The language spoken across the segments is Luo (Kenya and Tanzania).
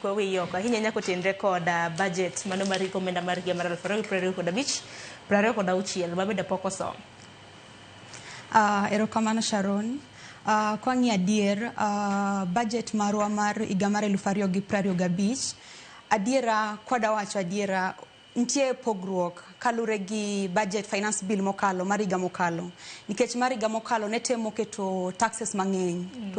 Kwa wiye oko ahinya nyako tenre kod ah, budget mano mar riko omenda mar higa mar aluf ariyo gi piero ariyo kod abich, piero ariyo kod auchiel ma bende pok osom. Ah, erokamano Sharon. Ah, kwang'i adier ah, budget marwa mar higa mar eluf ariyo gi prariyo gabich adiera kwadawacho adiera Nitie pogruok kalure gi budget finance bill mokalo mar higa mokalo nikech mar higa mokalo ne temo keto taxes mang'eny mm.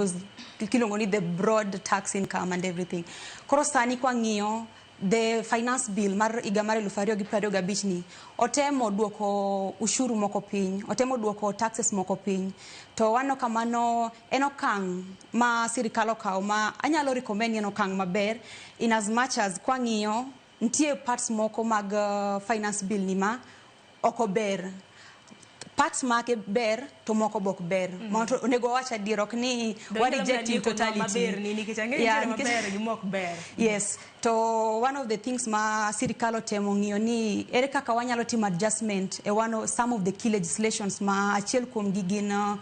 to kiluongo ni the broad tax income and everything koro sani kwa ng'iyo the finance bill mar higa mar eluf ariyo gi piero ariyo gabich ni otemo duoko ushuru moko piny otemo duoko taxes moko piny to wano kamano en okang' ma sirikal okawo ma anyalo recommend ni en okang' maber in as much as kwang'iyo Ntie parts moko mag uh, finance bill ni ma oko ber parts make ber to moko bok ber mm -hmm. mondo onego wacha dir ok ni wa reject in totality maber ni nikech ang'e yeah, ni maber gi mok ber yes to one of the things ma sirikal otemo ng'iyo ni ere kaka wanyalo timo adjustment e one of, some of the key legislations ma achiel kuom gi gin uh,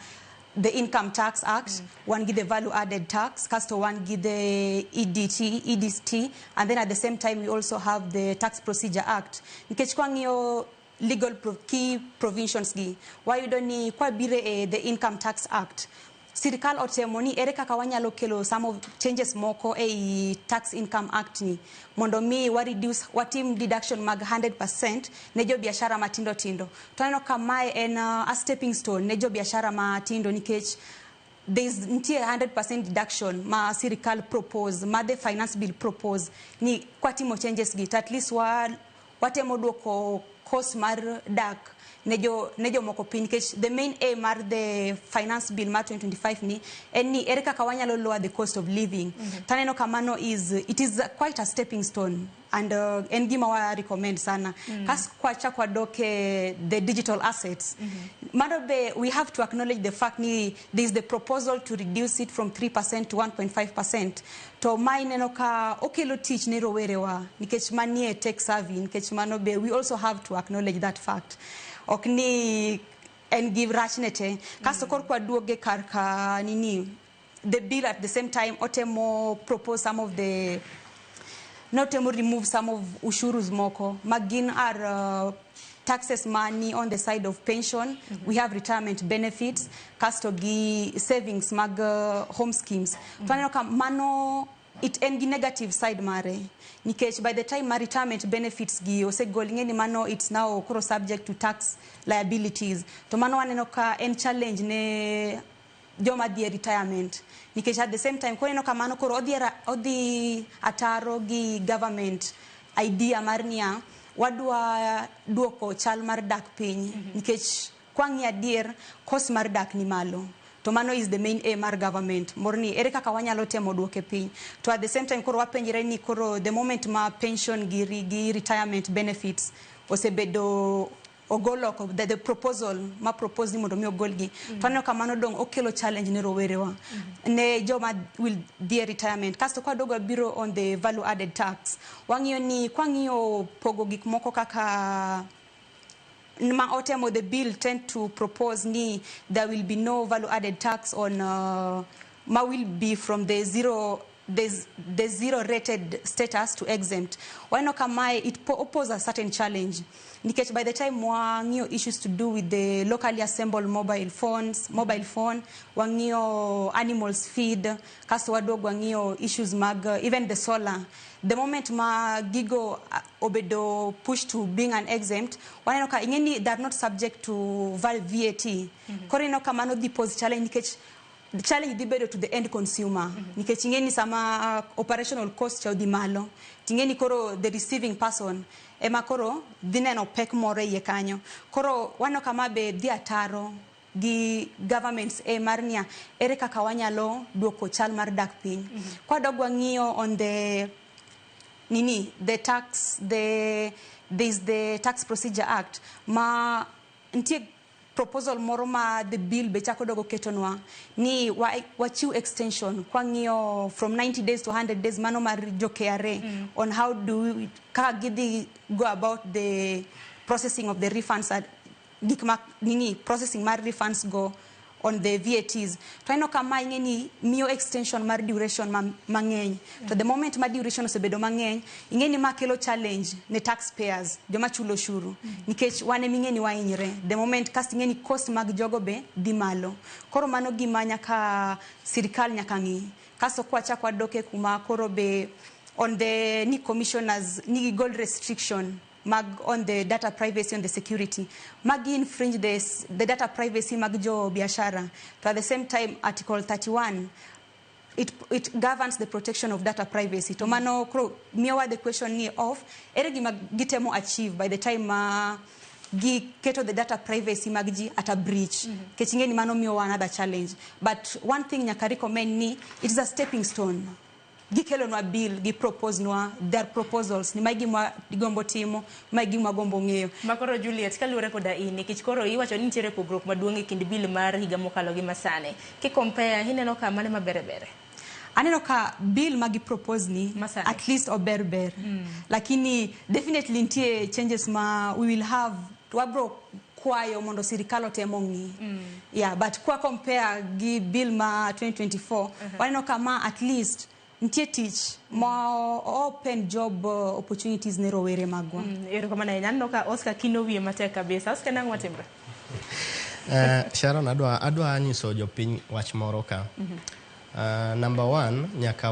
the income tax act mm. wan gi the value added tax kasto wan gi the edt edt and then at the same time we also have the tax procedure act nikech kwang'iyo legal pro key provisions gi wayudo ni kwabire e the income tax act sirikal otemo ni ere kaka wanyalo kelo some of changes moko ei tax income act ni mondo mi wa reduce watim deduction mag 100% ne jo biashara matindo tindo To aneno ka mae en uh, a stepping stone ne jo biashara matindo nikech there is nitie 100% deduction ma sirikal propose ma the finance bill propose ni kwatimo changes gi to at least wa, watemo duoko cost mar dak ne jo ne jomoko piny nikech the main aim mar the finance bill mar 2025 ni en ni ere kaka wanyalo lower the cost of living taneno kamano is it is quite a stepping stone and uh, en gima wa recommend sana mm. kas kwacha kwadok eh, the digital assets mm -hmm. mano be we have to acknowledge the fact ni there is the proposal to reduce it from 3% to 1.5% to ma ineno ka okelo tich ne rowerewa nikech manie tech savvy nikech mano be we also have to acknowledge that fact ok ni en gi rachne te kasto mm. kor kwaduoge kar ka nini the bill at the same time otemo propose some of the notemo remove some of ushurus moko magin are uh, taxes money on the side of pension mm -hmm. we have retirement benefits kasto gi savings mag uh, home schemes mm -hmm. twaneno ka mano it en gi negative side mare nikech by the time ma retirement benefits gi osegol ing'e ni mano it's now koro subject to tax liabilities to mano waneno ka en challenge ne joma dhi e retirement nikech at the same time koneno kamano koro odhi, odhi ataro gi government idea mar niya wadwa duoko chal mar dak piny mm -hmm. nikech kwang'i adier kos mar dak ni malo to mano is the main aim mar government mor ni ere kaka wanyalo temo duoke piny to at the same time koro wapenjre ni koro the moment ma pension gi, gi retirement benefits osebedo ogol oko the, the proposal ma propose ni mondo mi ogolgi mm -hmm. to aneno ka mano dong okelo challenge ne rowerewa mm -hmm. ne joma will dhie retirement kasto kwa dogo biro on the value added tax wang'iyo ni kwa ng'iyo pogo gik moko kaka ma otemo the bill tend to propose ni there will be no value added tax on uh, ma will be from the zero there's, there's zero rated status to exempt waneno ka mae it po- pose a certain challenge nikech by the time wang'iyo issues to do with the locally assembled mobile phones mobile phone wang'iyo animals feed kasto waduog wang'iyo issues mag uh, even the solar the moment ma gigo uh, obedo push to being an exempt waneno ka ing'eni they are not subject to val vat koro ineno ka mano dhi pose challenge nikech chal idhi bedo to the end consumer mm -hmm. nikech ing'eni sama uh, operational cost cha odhi malo ting'eni koro the receiving person ema koro dhi neno pek moro e iye kanyo koro wano kama be dhi ataro gi governments e mar niya ere kaka wanyalo duoko chal mar dak piny mm -hmm. kwadog wang'iyo on the nini the tax the there's the tax procedure act ma nitie proposal moro ma the bill be chako dogo ketonwa ni wa, wachiw extension kwang'iyo from 90 days to 100 days mano mar jo KRA mm. on how do we, kaka gidhi go about the processing of the refunds at gik ma nini processing mar refunds go on the VATs to aneno kama ing'e ni miyo extension mar duration mang'eny ma to the moment ma duration osebedo mang'eny ing'e ni ma kelo challenge ne tax payers joma chulo oshuru nikech wan ema ing'e ni wahinyre the moment kasto ing'e ni cost mag jogo be dhi malo koro mano gima nyaka sirikal nyaka ng'i kasto kwachak wadok e kuma koro be on the ni commissioners ni gigol restriction mag on the data privacy on the security magi infringe the, s- the data privacy mag jo biashara to at the same time article 31 it, it governs the protection of data privacy to mano koro miyowa the question ni of ere gima gitemo achieve by the time ma giketo the data privacy mag ji at a breach kech ing'e ni mano miyowa another challenge but one thing nyaka recommend ni it is a stepping stone gikelonwa bill giproposenwa their proposals ni magi gima gigombo timo Mae gima agombo ng'eyo. Ma koro Juliet, kaluwore koda in, nikech koro iwacho ni nitiere pogruok maduong' e kind bill mar higa mokalo gi masani. Ki compare, ineno ka mane ma bere bere? Aneno ka bill ma gi propose ni Masani. at least ober ber. Lakini definitely nitie changes ma we will have to wabro kwayo mondo sirikal otem ong'i. Yeah, but kwa compare gi bill ma 2024, waneno ka ma at least Nitie tich ma open job uh, opportunities ne rowere magwa. Mm, Erokamano ahinya. Aneno ka Oscar kino wiye matek kabisa. Oscar nang'o matimre? Eh, Sharon adwa adwa nyiso jopiny wach moro ka. Eh, number one nyaka